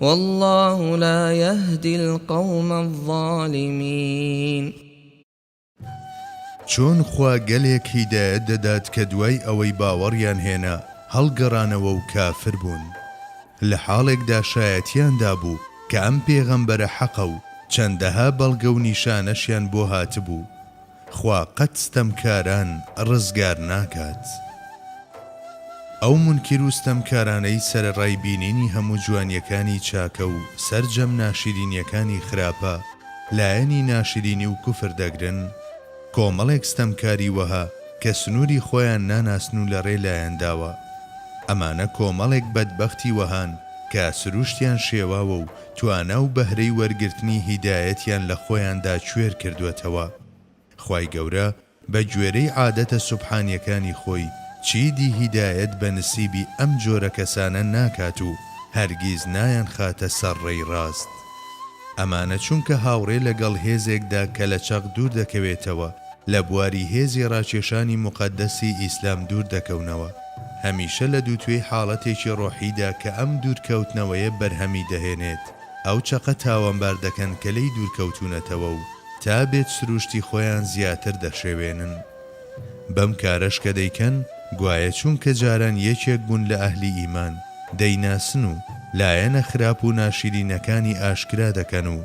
واللە لا یهدی القوم الظالمین. چۆن خوا گەلێک هیدایەت دەدات کە دوای ئەوەی باوەڕیان هێنا هەڵگەڕانەوە و کافر بوون؟ لە حاڵێکدا شایەتیان دابوو کە ئەم پێغەمبەرە حەقە و چەندەها بەڵگە و نیشانەشیان بۆ هاتبوو خوا قەت ستەمکاران ڕزگار ناکات. ئەو مونکیر و ستەمکارانەی سەرەڕای بینینی هەموو جوانیەکانی چاکە و سەرجەم ناشیرینیەکانی خراپە لایەنی ناشرینی و کوفر دەگرن، کۆمەڵێک ستەمکاری وەها کە سنوری خۆیان ناناسن و لەڕێ لایان داوە. ئەمانە کۆمەڵێک بەدبەختی وەهان کە سروشتیان شێواوە و توانا و بەهرەی وەرگرتنی هیدایەتیان لە خۆیاندا کوێر کردووەتەوە. خوای گەورە بە گوێرەی عادەتە سوبحانیەکانی خۆی چیدی هیدایەت بە نسیبی ئەم جۆرە کەسانە ناکات و هەرگیز نایانخاتە سەر ڕێی ڕاست. ئەمانە چونکە هاوڕێ لە گەڵ هێزێکدا کە لە چەق دوور دەکەوێتەوە لە بواری هێزی ڕاکێشانی موقەدەسی ئیسلام دوور دەکەونەوە. هەمیشە لە دووتوێی حاڵەتێکی ڕۆحیدا کە ئەم دوورکەوتنەوەیە بەرهەمی دەهێنێت، ئەو چەقە تاوانبار دەکەن کە لێی دوورکەوتوونەتەوە و تا بێت سرووشتی خۆیان زیاتر دەشێوێنن. بەم کارەش کە دەیکەن، گوایە چونکە جاران یەکێک بوون لە ئەهلی ئیمان، دەیناسن و لایەنە خراپ و ناشیرینەکانی ئاشکرا دەکەن و،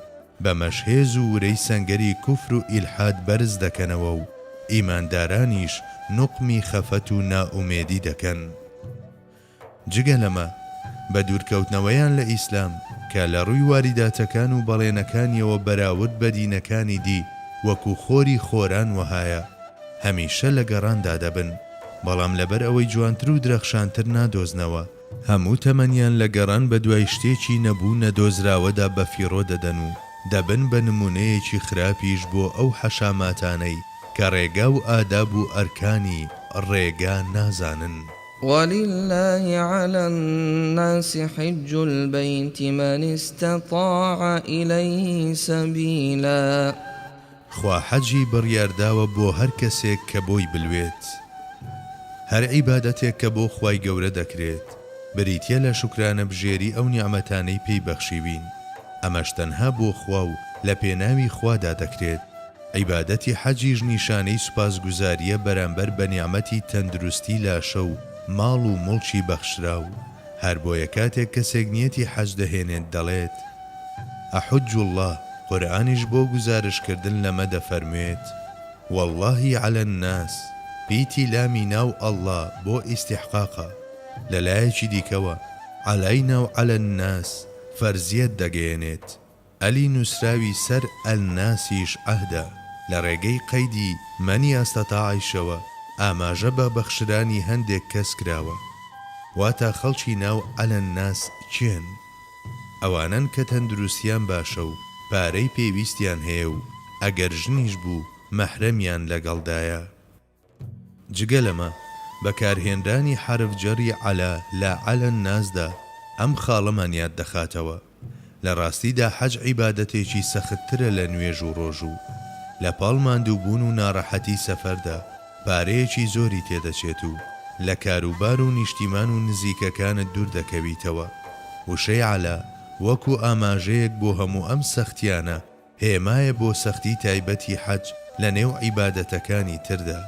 بەمەش هێز و ورەی سەنگەری کوفر و ئیلحاد بەرز دەکەنەوە و ئیماندارانیش نوقمی خەفەت و نائومێدی دەکەن. جگە لەمە، بە دوورکەوتنەوەیان لە ئیسلام، کە لە ڕووی واریداتەکان و بەڵێنەکانییەوە بەراورد بە دینەکانی دی وەکوو خۆری خۆران وەهایە، هەمیشە لە گەڕاندا دەبن، بەڵام لەبەر ئەوەی جوانتر و درەخشانتر نادۆزنەوە. هەموو تەمەنیان لە گەڕان بە دوای شتێکی نەبوو نەدۆزراوەدا بەفیڕۆ دەدەن و دەبن بە نموونەیەکی خراپیش بۆ ئەو حەشاماتانەی کە ڕێگا و ئاداب و ئەرکانی ڕێگا نازانن. وللە علی الناس حج البیت من استطاع الیه سبیلا، خوا حەجی بڕیارداوە بۆ هەر کەسێک کە بۆی بلوێت. هەر عیبادەتێک کە بۆ خوای گەورە دەکرێت بریتیە لە شوکرانە بژێری ئەو نیعمەتانەی پێی بەخشیوین، ئەمەش تەنها بۆ خوا و لە پێناوی خوادا دەکرێت، عیبادەتی حەجیش نیشانەی سوپاسگوزاریە بەرامبەر بە نیعمەتی تەندروستی لاشە و ماڵ و موڵکی بەخشراو. هەر بۆیە کاتێک کەسێک نیەتی حەج دەهێنێت دەڵێت، احج اللە، قورئانیش بۆ گوزارش کردن لەمە دەفەرموێت، واللهی علی الناس، پیتی لامی ناو اللە بۆ ئیستحقاقە، لە لایەکی دیکەوە، علینا و علی الناس، فەرزیەت دەگەیەنێت. الی نووسراوی سەر الناسیش عهدە لە ڕێگەی قەیدی، من یستطاع، شەوە ئاماژە بە بەخشرانی هەندێک کەس کراوە، واتا خەڵکی ناو علی الناس کێن؟ ئەوانەن کە تەندروستیان باشە و پارەی پێویستیان هەیە و ئەگەر ژنیش بوو مەحرەمیان لەگەڵدایە. جگە لەمە، بەکارهێنرانی حەرف جەری عەلا لە عەلا الناسدا ئەم خاڵەمان یاد دەخاتەوە، لە ڕاستیدا حەج عیبادەتێکی سەختترە لە نوێژ و ڕۆژوو، لە پاڵ ماندووبوون و ناڕەحەتی سەفەردا پارەیەکی زۆری تێدەچێت و لە کاروبار و نیشتیمان و نزیکەکانت دوور دەکەویتەوە، وشەی عەلا وەکو ئاماژەیەک بۆ هەموو ئەم سەختییانە، هێمایە بۆ سەختی تایبەتی حەج لە نێو عیبادەتەکانی تردا.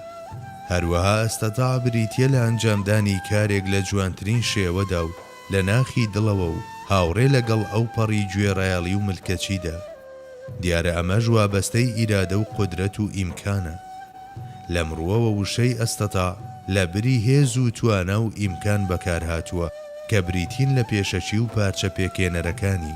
هەروەها استطاع بریتیە لە ئەنجامدانی کارێک لە جوانترین شێوەدا و لە ناخی دڵەوە و هاوڕێ لە گەڵ ئەو پەڕی گوێڕایەڵی و ملکەچیدا. دیارە ئەمەش وابەستەی ئیرادە و قودرەت و ئیمکانە. لەم ڕووەوە وشەی استطاع لە بری هێز و توانا و ئیمکان بەکارهاتووە کە بریتین لە پێشەکی و پارچە پێکێنەرەکانی.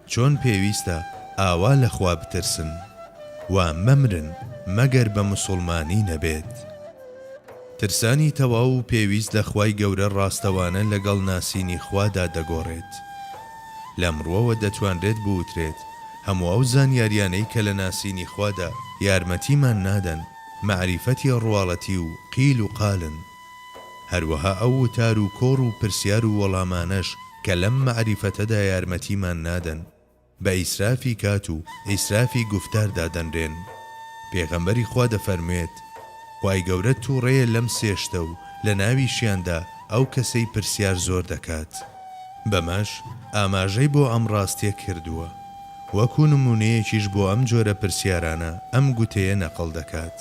چۆن پێویستە ئاوا لە خوا بترسن و مەمرن مەگەر بە مسوڵمانی نەبێت. ترسانی تەواو و پێویست لە خوای گەورە ڕاستەوانە لەگەڵ ناسینی خوادا دەگۆڕێت. لەم ڕووەوە دەتوانرێت بوترێت هەموو ئەو زانیاریانەی کە لە ناسینی خوادا یارمەتیمان نادەن، مەعریفەتی ڕواڵەتی و قیل و قالن. هەروەها ئەو وتار و کۆڕ و پرسیار و وەڵامانەش کە لەم مەعریفەتەدا یارمەتیمان نادەن، بە ئیسرافی کات و ئیسرافی گوفتار دادەنرێن. پێغەمبەری خوا دەفەرموێت، خوای گەورە تووڕەیە لەم سێ شتە و لە ناویشیاندا ئەو کەسەی پرسیار زۆر دەکات. بەمەش ئاماژەی بۆ ئەم ڕاستیە کردووە. وەکو نموونەیەکیش بۆ ئەم جۆرە پرسیارانە ئەم گوتەیە نەقڵ دەکات.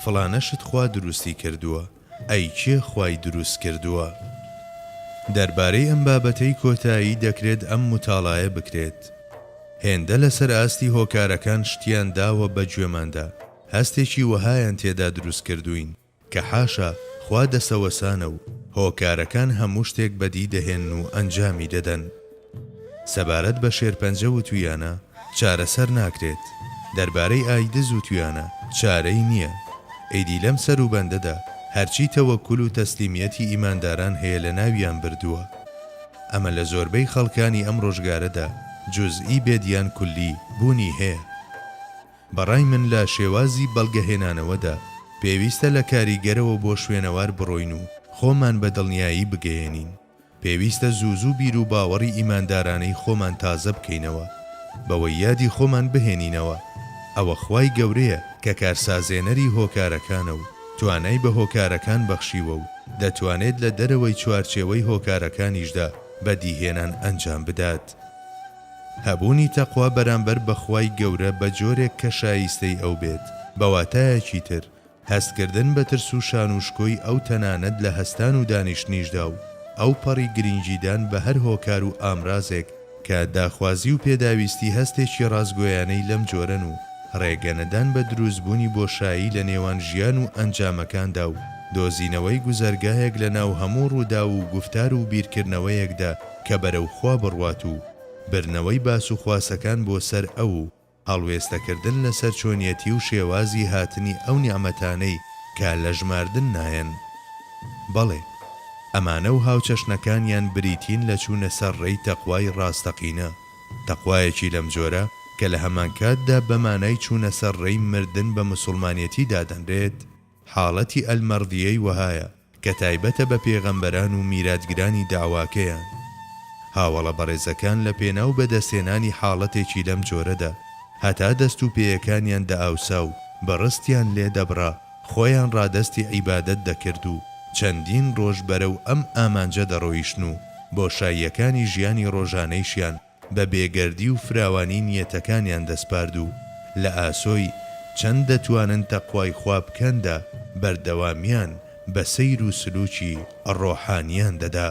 فڵانە شت خوا دروستی کردووە، ئەی کێ خوای دروست کردووە؟ دەربارەی ئەم بابەتەی کۆتایی دەکرێت ئەم متاڵایە بکرێت. هێندە لەسەر ئاستی هۆکارەکان شتیان داوە بە گوێماندا، هەستێکی وەهایان تێدا دروست کردووین کە حاشا خوا دەسەوەسانە و هۆکارەکان هەموو شتێک بەدی دەهێن و ئەنجامی دەدەن. سەبارەت بە شێرپەنجە و تویانە، چارەسەر ناکرێت. دەربارەی ئایدز و تویانە، چارەی نییە. ئیدی لەم سەروبەندەدا هەرچی تەوەکول و تەسلیمیەتی ئیمانداران هەیە لەناویان بردووە. ئەمە لە زۆربەی خەڵکانی ئەم ڕۆژگارەدا جوزئی بێت یان کولی بوونی هەیە. بەڕای من لە شێوازی بەڵگەهێنانەوەدا پێویستە لە کاریگەرەوە بۆ شوێنەوار بڕۆین و خۆمان بە دڵنیایی بگەیەنین. پێویستە زوو زوو بیروباوەڕی ئیماندارانەی خۆمان تازە بکەینەوە، بەوەی یادی خۆمان بهێنینەوە ئەوە خوای گەورەیە کە کارسازێنەری هۆکارەکانە و توانای بە هۆکارەکان بەخشیوە و دەتوانێت لە دەرەوەی چوارچێوەی هۆکارەکانیشدا بەدیهێنان ئەنجام بدات. هەبوونی تەقوا بەرامبەر بە خوای گەورە بە جۆرێک کە شایستەی ئەو بێت، بە واتایەکی تر، هەستکردن بە ترس و شان و شکۆی ئەو تەنانەت لە هەستان و دانیشتنیشدا و ئەوپەڕی گرینگیدان بە هەر هۆکار و ئامرازێک کە داخوازی و پێداویستی هەستێکی ڕاستگۆیانەی لەم جۆرەن و ڕێگەنەدان بە دروستبوونی بۆشایی لە نێوان ژیان و ئەنجامەکاندا و دۆزینەوەی گوزەرگاهێک لە ناو هەموو ڕووداو و گوفتار و بیرکردنەوەیەکدا کە بەرەو خوا بڕوات و برنەوەی باسوخواسەکان بۆ سەر ئەو و هەڵوێستەکردن لەسەر چۆنیەتی و شێوازی هاتنی ئەو نیعمەتانەی کە لە ژماردن نایەن. بەڵێ، ئەمانە و هاوچەشنەکانیان بریتین لە چوونە سەر ڕێی تەقوای ڕاستەقینە، تەقوایەکی لەم جۆرە کە لە هەمانکاتدا بە مانای چوونە سەر ڕێی مردن بە مسوڵمانێتی دادەنرێت، حاڵەتی المرضیەی وەهایە، کە تایبەتە بە پێغەمبەران و میراتگرانی دەعواکەیان. هاوەڵە بەڕێزەکان لە پێناو بەدەستهێنانی حاڵەتێکی لەم جۆرەدا، هەتا دەست و پێیەکانیان دەئاوسا و بڕستیان لێ دەبڕا، خۆیان ڕادەستی عیبادەت دەکرد و چەندین ڕۆژ بەرەو ئەم ئامانجە دەڕۆیشتن و بۆشاییەکانی ژیانی ڕۆژانەیشیان بە بێگەردی و فراوانی نیەتەکانیان دەسپارد و لە ئاسۆی چەند دەتوانن تەقوای خوا بکەندا بەردەوامیان بە سەیر و سلووکی ڕۆحانیان دەدا.